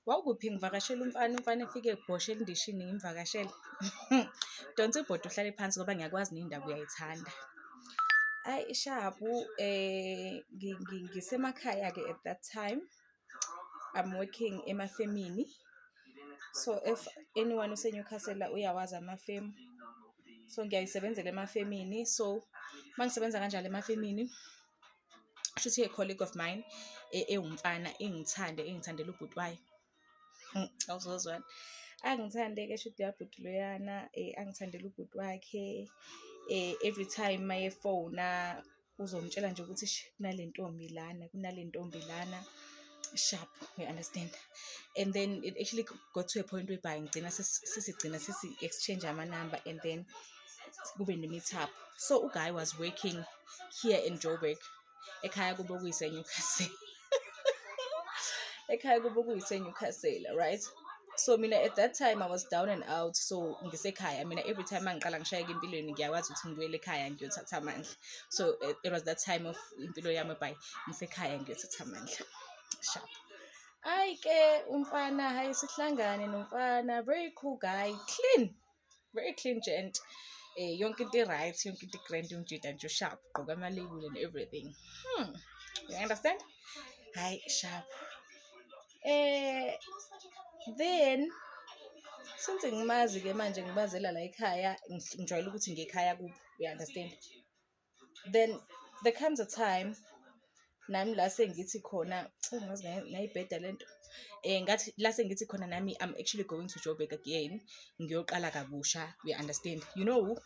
Wawukuphi ngivakashela umfana, umfana efike ebhoshe elindishini ngimvakashele. Donsa ibhodi uhlale phansi ngoba ngiyakwazi nendaba uyayithanda. Ayi ishabu eh ngisemakhaya ke at that time. I'm working emafemini. So if anyone useNewcastle uyawazi amafemu. So ngiyayisebenzela emafemini. So mangisebenza kanjalo emafemini shuthi i-colleague of mine e, ewumfana ingithande ingithandela ubhuti wayo hmm, awuzozwana angithande-ke shuthi yabhuti loyana um eh, angithandela ubhuti wakhe um every time uma yefona uzomtshela nje ukuthi kunale ntombi lana kunale ntombi lana sharp you understand and then it actually got to a point whereby ngigcina sisigcina sisi-exchange amanumber and then kube ne-meet up so uguy was working here in joburg ekhaya kube kuyisenewcastle ekhaya kube kuyisenewcastle right so mina at that time i was down and out so ngisekhaya mina every time angiqala ngishayeka empilweni ngiyakwazi ukuthi ngibuyele ekhaya ngiyothatha amandla so eh, it was that time of impilo yami by ngisekhaya ngiyothatha amandla sharp ayi ke umfana hayi sihlangane nomfana very cool guy clean very clean gent eh yonke into right yonke into grand umjida nje sharp gqoka ama label and everything hmm you understand hi sharp eh then since ngimazi ke manje ngibazela la ekhaya ngijwayele ukuthi ngekhaya kuphi you understand then there comes a time nami la sengithi khona ngazi ngayibheda le nto um ngathi la sengithi khona nami i'm actually going to joburg again ngiyoqala kabusha we understand you know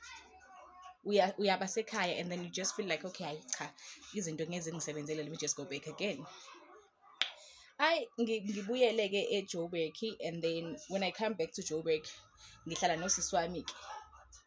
uyaba sekhaya and then you just feel like okay hayi cha izinto ngeze ngisebenzele let me just go back again ayi ngibuyele-ke ejoburg and then when i come back to joburg ngihlala nosisi wami-ke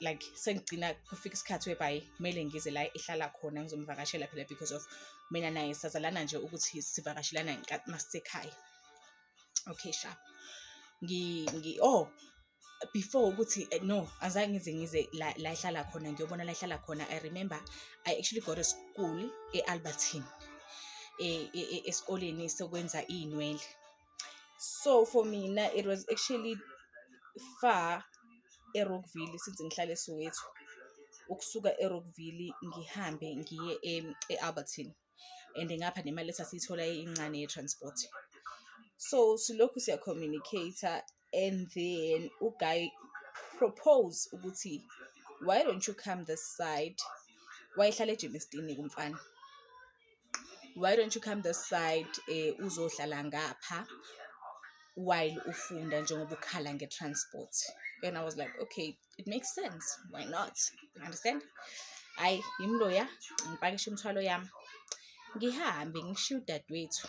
like sengigcina kufika isikhathi webhayi kumele ngize la ehlala khona ngizomvakashela phela because of mina naye sazalana nje ukuthi sivakashelana ngenkathi masisekhaya okay sharp ngi ngi oh before ukuthi eh, no azange ngize ngize la la ehlala khona ngiyobona la ehlala khona i remember i actually got a school eAlbertine e- e- e- esikoleni sokwenza izinwele so for mina it was actually far erockville since ngihlale soweto ukusuka erockville ngihambe ngiye e-albertine and ngapha nemali esasiyithola incane ye-transport so silokhu siya-communicate-a and then uguy propose ukuthi why don't you come this side wayehlala ejimistini kumfana why don't you come this side eh uzohlala ngapha while ufunda njengoba ukhala nge-transport and i was like okay it makes sense why not you understand hayi yimloya ngipakishe imithwalo yami ngihambe ngishiye udadewethu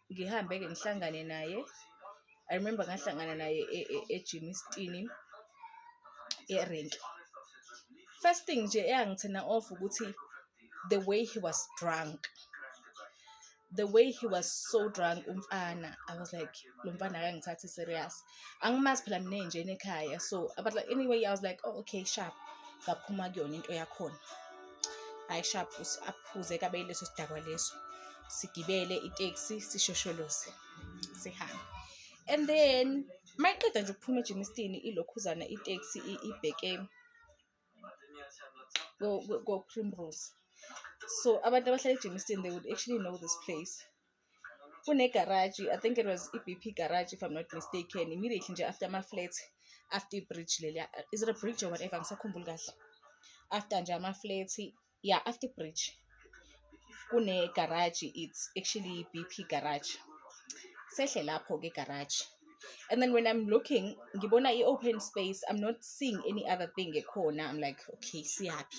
ngihambe-ke ngihlangane naye i remember ngahlangana naye ejim e, e isitini erenki first thing nje eyangithena off ukuthi the way he was drunk the way he was so drunk umfana i was like lo mfana akangithathi serious angimazi phela mina enjena ekhaya so but like anyway i was like oh okay sharp ngaphuma kuyona into yakhona hayi sharp aphuze kabeyile leso sidakwa leso sigibele iteksi sishosholoze sihambe and then mayiqeda nje ukuphuma ejimistini ilokhuzana iteksi ibheke ko-primrose so abantu abahlala ejimistini they would actually know this place kunegaraji i think it was i-b p garage if i'm not mistaken immediately nje after ama-flat after ibridge leliya is it a bridge or whatever ngisakhumbuli kahle after nje ama-flat yeah after bridge kune garage it's actually bp garage sehle lapho ke garage and then when i'm looking ngibona i-open space i'm not seeing any other thing ekhona i'm like okay siyaphi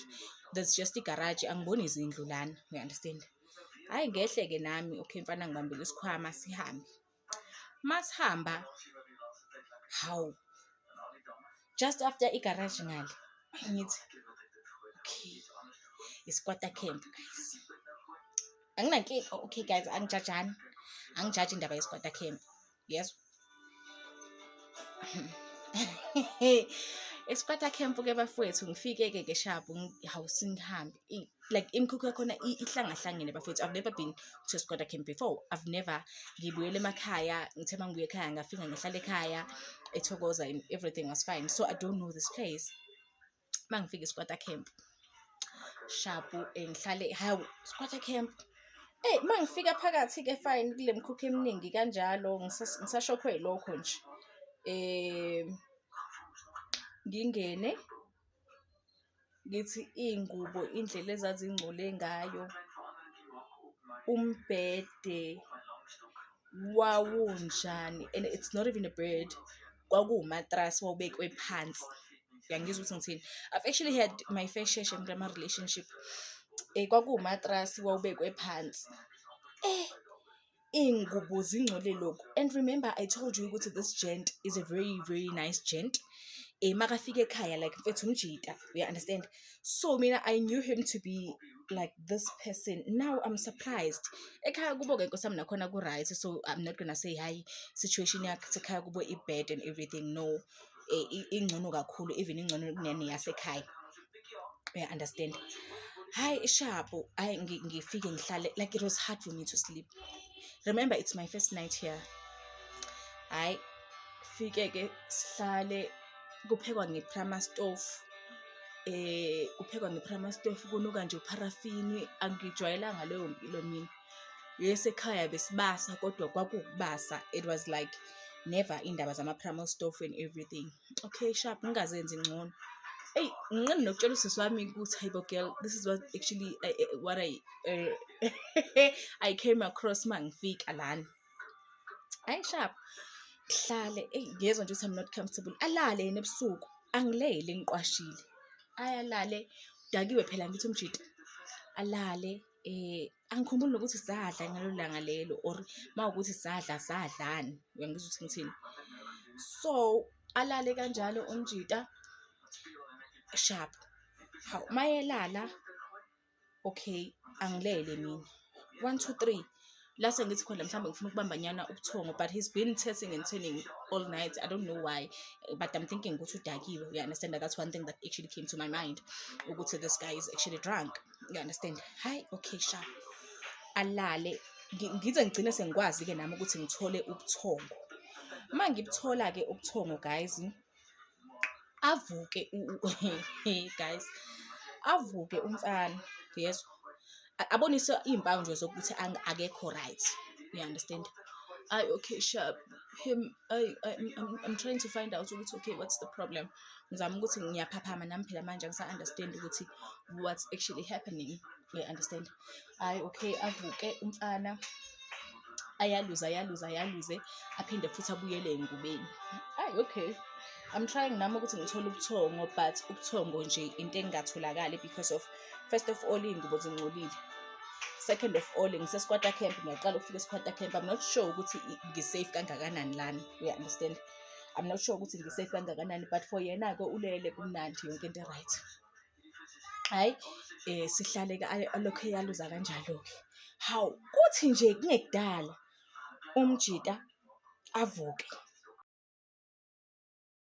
there's just igarage angiboni izindlu lana you understand hhayi ngehle-ke nami okay mfana ngibambele isikhwama sihambe masihamba hawu just after igaraji ngale ngithi okay isikwata camp guys anginankinga oh, okay guys angijajani angijaji indaba yesikwata camp yes esikwata camp ke bafowethu ngifike-ke ke shabu hawu singihambe like imikhukhu yakhona ihlangahlangene bafethu i've never been to squatter camp before i've never ngibuyele emakhaya ngithe uma ngibuye ekhaya ngafika ngihlala ekhaya ethokoza and everything was fine so i don't know this place uma ngifika esquatter camp shabu eh, ngihlale hawu squatter camp eyi uma ngifika phakathi-ke fine kule mkhukhu eminingi kanjalo ngisashokhwe lokho nje um ngingene ngithi iy'ngubo indlela ezazingcole ngayo umbhede wawunjani and it's not even a bed kwakuwumatrasi wawubekwe phansi uyangizwa ukuthi ngithini i've actually had my fair share shame grama relationship um eh, kwakuwumatrasi wawubekwe phansi um eh, iy'ngubo zingcole lokhu and remember i told you ukuthi this gent is a very very nice gent um makafika ekhaya like mfethu umjita you understand so mina i knew him to be like this person now i'm surprised ekhaya kubo-ke nkosi yami nakhona ku-right so i'm not gonna say hhayi situation yakhe sekhaya kubo i-bad and everything no eh, ingcono kakhulu even ingcono kunene yasekhaya uya understand hayi ishapu hayi ngifike ngihlale like it was hard for me to sleep remember it's my first night here hayi fike ke sihlale kuphekwa ngeprama stove eh kuphekwa ngeprama stove kunuka nje uparafini angijwayelanga leyo mpilo mina yes ekhaya besibasa kodwa kwakubasa it was like never indaba zama-primal stove and everything okay sharp ngingazenzi ngcono eyi nginqeni nokutshela usisi wami ukuthi hayibo girl this is what actually uh, uh, what i uh, i came across uma ngifika lana hayi sharp hlale eyi ngiyezwa nje ukuthi i'm not comfortable alale yena ebusuku angilele ngiqwashile ayalale dakiwe phela ngithi umjita alale eh angikhumbuli nokuthi sadla ngalo langa lelo or mawukuthi sadla sadlani uyangizwa ukuthi ngithini so alale kanjalo umjita sharp haw mayelala okay angilele mina 1 2 3 la sengithi khona mhlawumbe ngifuna ukubambanyana ubuthongo but he's been testing and turning all night i don't know why but i'm thinking ukuthi udakiwe you understand that's one thing that actually came to my mind ukuthi this guy is actually drunk you understand hi okay sha alale ngize ngigcine sengikwazi-ke nami ukuthi ngithole ubuthongo uma ngibuthola-ke ubuthongo guys avuke guys avuke umfana yezwa abonise iy'mpawu nje zokuthi akekho right you understand I okay sharp him I, I I'm, I'm trying to find out ukuthi okay what's the problem ngizama ukuthi ngiyaphaphama nami phela manje angisa understand ukuthi what's actually happening you understand hhayi okay avuke umfana ayaluze ayaluze ayaluze aphinde futhi abuyele engubeni ayi okay i'm trying nami ukuthi ngithole ubuthongo but ubuthongo nje into engingatholakali because of first of all iy'ngubo zingcolile second of all ngisesikwata camp ngiyaqala ukufika esikwata camp i'm not sure ukuthi ngisafe kangakanani lana uya understand i'm not sure ukuthi ngisafe kangakanani but for yena-ke ulele kumnandi yonke into right hhayi um sihlale-ke alokhu eyaluza kanjalo-ke hawu kuthi nje kungekudala umjita avuke